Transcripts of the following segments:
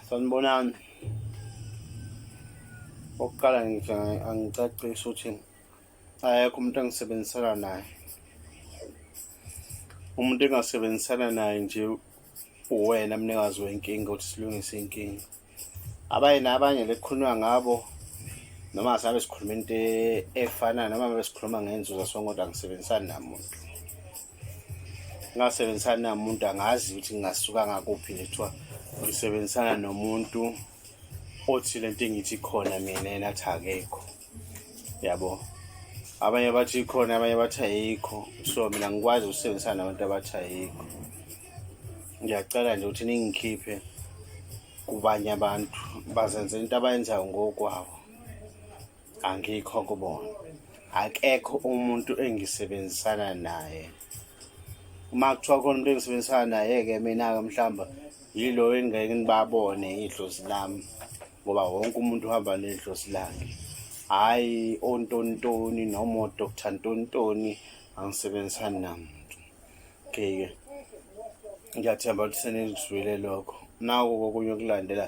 sanibonani okokuqala ngithi angicacisi ukuthi ayekho umuntu engisebenzisana naye umuntu engasebenzisana naye nje uwena mnikazi wenkinga ukuthi silungise inkinga abanye nabanye lekukhulunywa ngabo noma asabe sikhuluma into e-, efanayo noma besikhuluma ngenzuzo songoda ngisebenzisani namuntu ngasebenzisani namuntu angazi ukuthi ngingasuka ngakuphi lethiwa ngisebenzisana nomuntu othi lento engithi khona mina yena athi akekho yabo abanye bathi ikhona abanye bathi ayikho so mina ngikwazi ukusebenzisana nabantu abathi ayikho ngiyacela nje ukuthi ningikhiphe kubanye abantu bazenze into abayenzayo ngokwabo angikho kubona akekho umuntu engisebenzisana naye uma kuthiwa khona umuntu engisebenzisana naye-ke mina-ke mhlawumbe yilo engingeke ngibabone idlozi lami ngoba wonke umuntu uhamba nedlosi lakhe hhayi ontontoni noma odr ntontoni angisebenzisani namuntu okay-ke ngiyathemba ukuthi senizwile lokho naku kokunye okulandela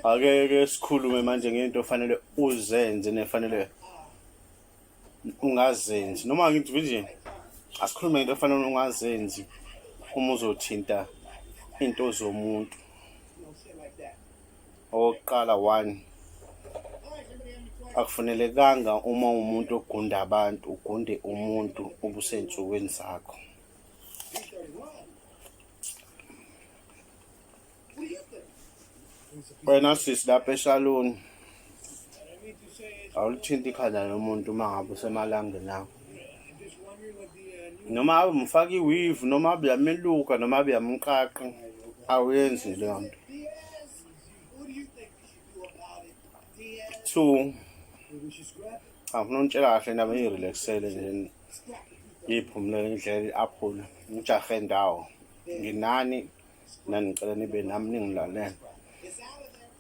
akeke sikhulume manje ngento ofanele uzenze nefanele ungazenzi noma ngithi nje asikhulume ngento ofanele ungazenzi uma uzothinta into zomuntu owokuqala one akufanelekanga uma umuntu ogunda abantu ugunde umuntu obusensukwini zakho wena sisi lapha eshaloni awulithinti ikhanda lomuntu uma ngabe usemalangeni akho noma abe mfaka iwivu noma abe yameluka noma abe yamqaqa awenzi leyo nto two angifuna untshela kahle nami ngirelaxele nje ngiphumulele indlela i-aphula ngijahe ndawo nginani nani ngicela nibe nami ningilalele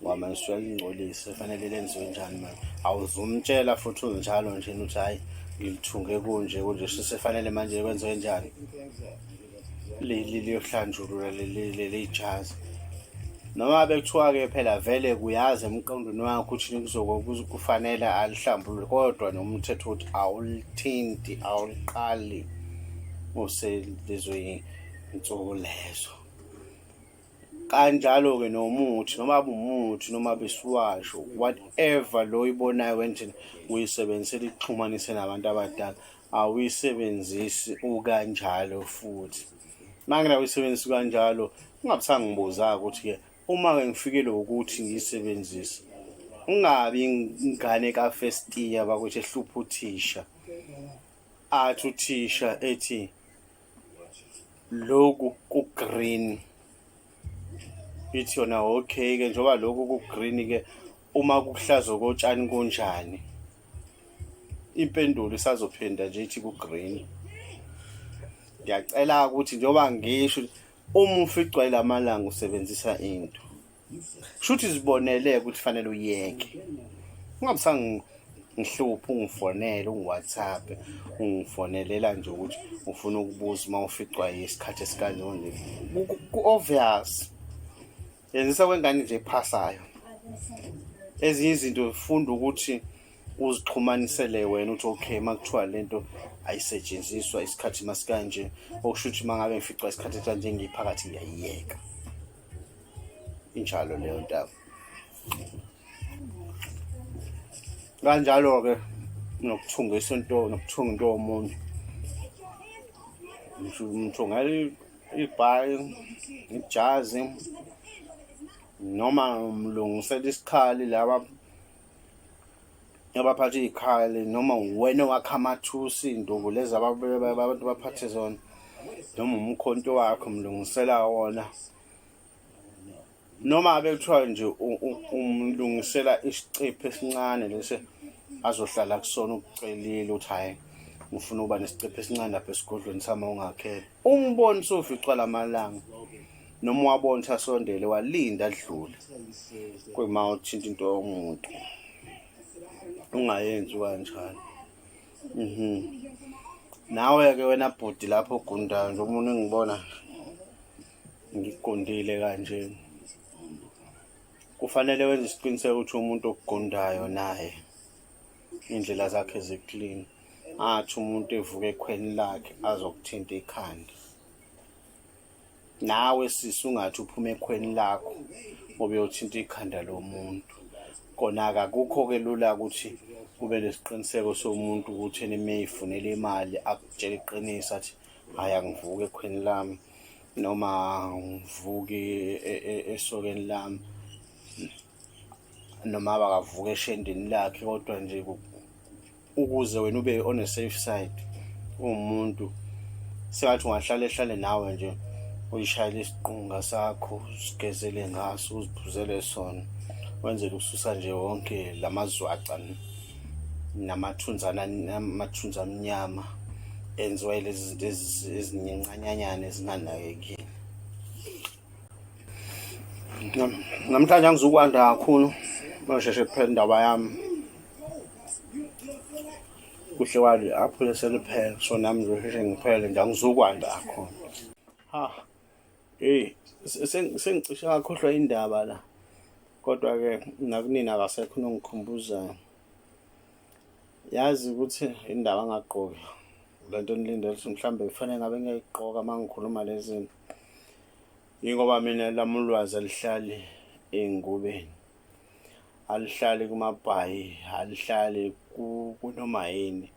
ngoba manje suke lingcolise fanele lenziwe njani manje awuzumtshela futhi unjalo nje ukuthi hhayi ngilithunge kunje kunje sisefanele manje kwenziwe njani leli liyohlanjulula leli jazi noma bekuthiwa-ke phela vele kuyazi emqondweni wakho ukuthi nikuzoke kufanele alihlambulule kodwa nomthetho ukuthi awulithinti awuliqali uselizwe insuku lezo kanjalo-ke nomuthi noma abumuthi noma besiwasho whatever lo oyibonayo wendlela uyisebenzisela ikuxhumanise nabantu abadala awuyisebenzisi ukanjalo futhi mangena uyisebenzisi kanjalo ungabusangibuza-ke ukuthi-ke uma-ke ngifikele ukuthi ngiyisebenzise ungabi ingane ka-first year bakuthi ehlupha uthisha athi uthisha ethi loku ku-green ithi yona okay ke njengoba loku ku-green ke uma kuhlaza kotshani kunjani impendulo isazophinda nje ithi ku-green ngiyacela ukuthi njengoba ngisho uma uficwa ilamalanga usebenzisa into shuthi zibonele ukuthi fanele uyeke ungabisanga ngihluphe ungifonele ungiwhatsapp ungifonelela nje ukuthi ufuna ukubuza uma uficwa isikhathi esikanjone ku-obvious yenzisa kwengane nje ephasayo ezinye izinto funda ukuthi uzixhumanisele wena uthi okay uma kuthiwa le nto ayisetshenziswa isikhathi masikanje okusho ukuthi uma ngabe ngificwa isikhathi kanje ngiyiphakathi ngiyayiyeka injalo leyo ntaba kanjalo-ke nokuthungisa into nokuthunga into yomuntu mthungela ibhayi ijazi noma mlungisela isikhali laba yabaphatha iy'khali noma wena owakha amathusi iy'ndungu lezi abantu baphathe zona noma umkhonto wakho mlungisela wona noma abe kuthiwa nje umlungisela isicipho esincane lesi azohlala kusona ukucelile ukuthi hhayi ngifuna ukuba nesicipho esincane lapha esigodlweni sami ongakhele Umboni soficwa lamalanga noma wabona ukuthi asondele walinda adlule kuyima uthinta into yomuntu ungayenzi kanjalo mhm nawe-ke wena bhuti lapho ogundayo nje umuntu engibona ngigundile kanje kufanele wenze isiqiniseko ukuthi umuntu okugundayo naye iy'ndlela zakhe ziklini athi umuntu evuka ekhweni lakhe azokuthinta ikhanda nawe sisi ungathi uphuma ekhweni lakho ngoba uyothinta ikhanda lomuntu kona-ke akukho-ke lula ukuthi ube nesiqiniseko somuntu ukuthi ena uma eyifunela imali akutshela iqiniso athi hhayi angivuki ekhweni lami noma ngivuki e, e, esokeni lami noma abakavuka eshendeni lakhe kodwa nje ukuze wena ube on a safe side uwumuntu sengathi ungahlale hlale nawe nje uyishayele isiqunga sakho sigezele ngaso uziphuzele sona wenzele ukususa nje wonke lamazwaca namathunzana amathunza amnyama enziwa lezi zinto ezinyencanyanyana ezinganakekile namhlanje angizukwanda kakhulu basheshe kuphela indaba yami kuhle kwali aphule seliphele so nami ngizosheshe ngiphele nje angizukwanda kakhulu ha eyi sengicishe kakhohlwa indaba la kodwa-ke nakunini akasekho nongikhumbuzayo yazi ukuthi indaba angagqoki le nto enilindele ukuthi mhlawumbe kufanele ngabe ngiyayigqoka uma ngikhuluma le zinto yingoba mina lami ulwazi alihlali ey'ngubeni alihlali kumabhayi alihlali kunoma yini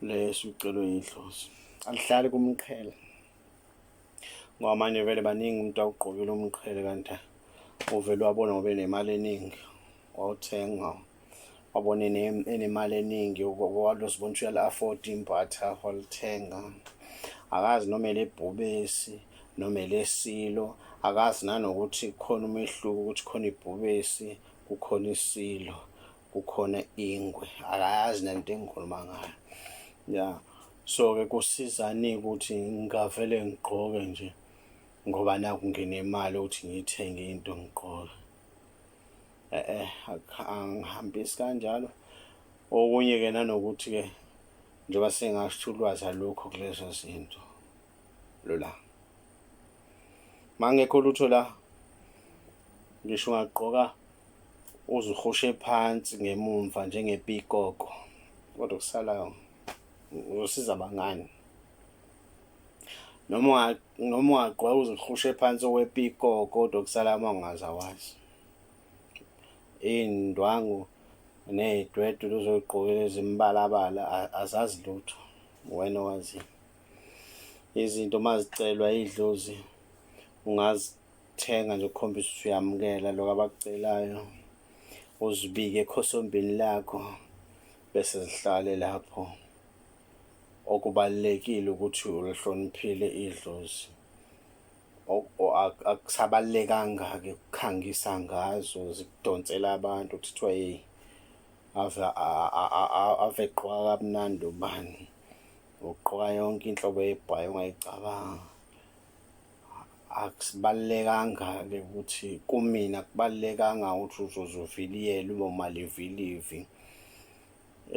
leso ucelwe yidlozi alihlali kumqhele ngoba manje vele baningi umuntu awugqokile umqhele kanti uvele wabona ngoba enemali eningi wawuthenga wabona enemali eningi walosibona ukuthi uyali-afford imbatha walithenga akazi noma elebhubesi noma elesilo akazi nanokuthi khona umehluko ukuthi khona ibhubesi kukhona isilo kukhona ingwe akayazi nento engikhuluma ngayo ya so-ke kusizani ukuthi ngingavele ngigqoke nje ngoba naku nginemali ukuthi ngiyithenge into ngigqoke eh eh angihambisi kanjalo okunye ke nanokuthi ke njengoba sengasho ulwazi alukho kulezo zinto lola mangekho lutho la ngisho ungagqoka uzihushe phansi ngemumva njengepikoko kodwa kusalayo uzosiza bangani noma noma ungagqoka uzihlushe phansi okwepikoko kodwa kusala amangazi awazi iy'ndwangu ney'dwedwe luzoyigqokela ezimibalabala azazi lutho wena owaziyo izinto uma zicelwa idlozi ungazithenga nje ukukhombisa ukuthi uyamukela lokho abakucelayo uzibike ekhosombini lakho bese zihlale lapho okubalulekile ukuthi ulihloniphile idlozi akusabalulekanga-ke ukukhangisa ngazo zikudonsela abantu ukuthi kuthiwa yeyi ave gqoka kamnandi ubani ugqoka yonke inhlobo yebhayi ongayicabanga akusibalulekanga-ke ukuthi kumina kubalulekanga ukuthi uzoze uviliyele uma malivilivi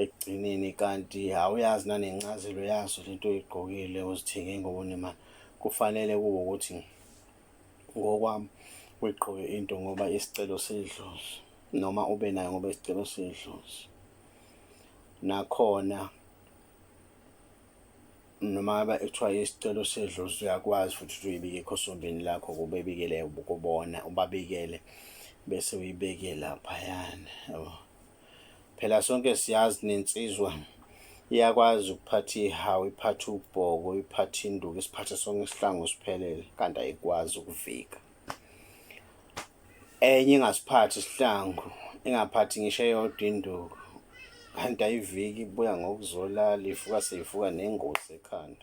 ekugcineni kanti awuyazi nanencazelo yaso lento oyigqokile uzithenge ngobunima kufanele kube ukuthi ngokwami uyigqoke into ngoba isicelo sedlozi noma ube nayo ngoba isicelo sedlozi nakhona noma ngabe kuthiwa isicelo sedlozi uyakwazi futhi ukuthi uyibike ekhosombeni lakho kubebikele kubona ubabikele bese uyibeke laphayana yabo Phela sonke siyazi nensizwa iyakwazi ukuphatha ihawu, iphathe ubhoko, iphathe induku, isiphathe sonke isihlangu siphelele kanti ayikwazi ukuvika. Enye ingasiphathi isihlangu, ingaphathi ngisho eyodwa induku kanti ayiviki ibuya ngokuzolala, ivuka seyivuka nengozi ekhanda.